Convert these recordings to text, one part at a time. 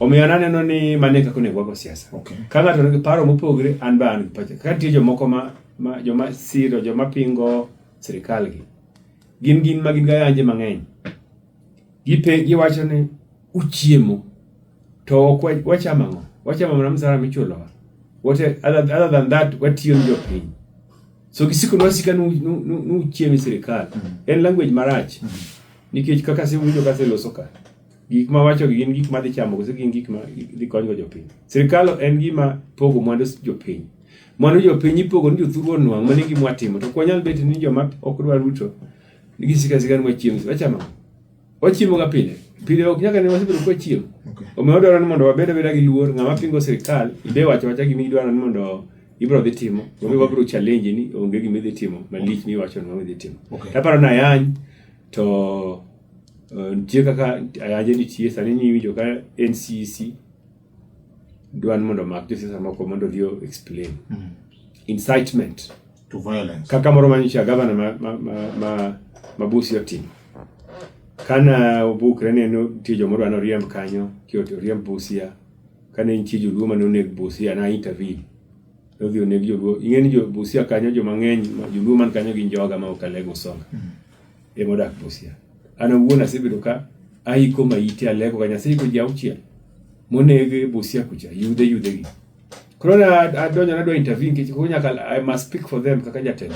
Omiyo aneno ni mane kaka onego wago siasa. Okay. Ka ng'ato nigi paro mopogre an ba an gi pacha. Ka nitie jomoko ma, ma joma siro joma pingo sirkal gi. Gin gin ma gin ga yanje mang'eny. Gipe giwacho ni uchiemo to ok wachamo ang'o? Wachamo mana msara michulowa. What other, other than that watiyo ni jopiny. So gisiko nwasika nu, nu, nu, nu uchiemi sirkal. Mm. En language marach. Mm. Nikech kaka siwinjo kase loso ka. gik ma wacho gin gik ma dhi chamo kose gin gik ma dhi konygo jopiny sirkal en gima pogo mwandu jopiny mwandu jopiny ipogo ni jothuru onwang' mani gima watimo to kwanyal bet ni joma ok dwa ruto nigi sika sika ni wachiemo wachamo wachiemo ga pile pile ok nyaka ne wasebedo kwa chiemo omiyo wadwaro ni mondo wabed abeda gi luor ng'ama pingo sirkal ide wacho wacha gima idwaro ni mondo ibro dhi timo onge wabro challenge ni onge gima idhi timo malich miwacho ni wabro dhi timo aparo ni ayany to Uh, nitie kaka ayanje nitie sani niwinjo ka ncc dwan mondo omak josiasa moko mondo odhi o explain Mm. incitement To violence. kaka moro manyicha gavana ma, ma, ma, ma, ma busi otimo kana obukre ne nitie jomoro dwa noriemb kanyo kioti oriemb busia kane nitie joluo mane oneg busia na intervene nodhi oneg joluo ing'e ni jo busia kanyo joma ng'eny ma- joluo man kanyo gin joga ma ok alego songa ema odak Busia. An awuon asebedo ka aiko maite aleko ka Nyasaye ko ji auchiel moneg e Busia kucha yudhe yudhe gi. Koro na adonjo nadwa interview nikech koro nyaka I must speak for them kaka jatelo.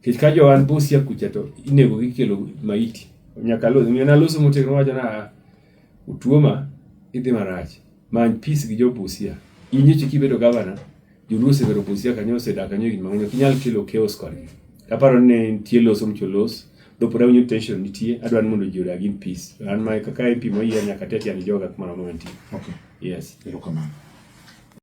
Nikech ka jo an Busia kucha to inego gi kelo maiti. Nyaka loso, na loso motegno wacho na Otuoma idhi marach. Many peace gi jo Busia. In eche kibedo gavana, joluo osebedo Busia kanyo osedak kanyo higni mang'eny. Ok inyal kelo chaos kodgi. Aparo ni ne nitie los um cholos. Though pod awinjo tension nitie, adwa ni mondo ji odag in peace. An ma kaka MP moyier nyaka ati atiani joga kumoro amora mantie. Okay. Yes. Erokamano.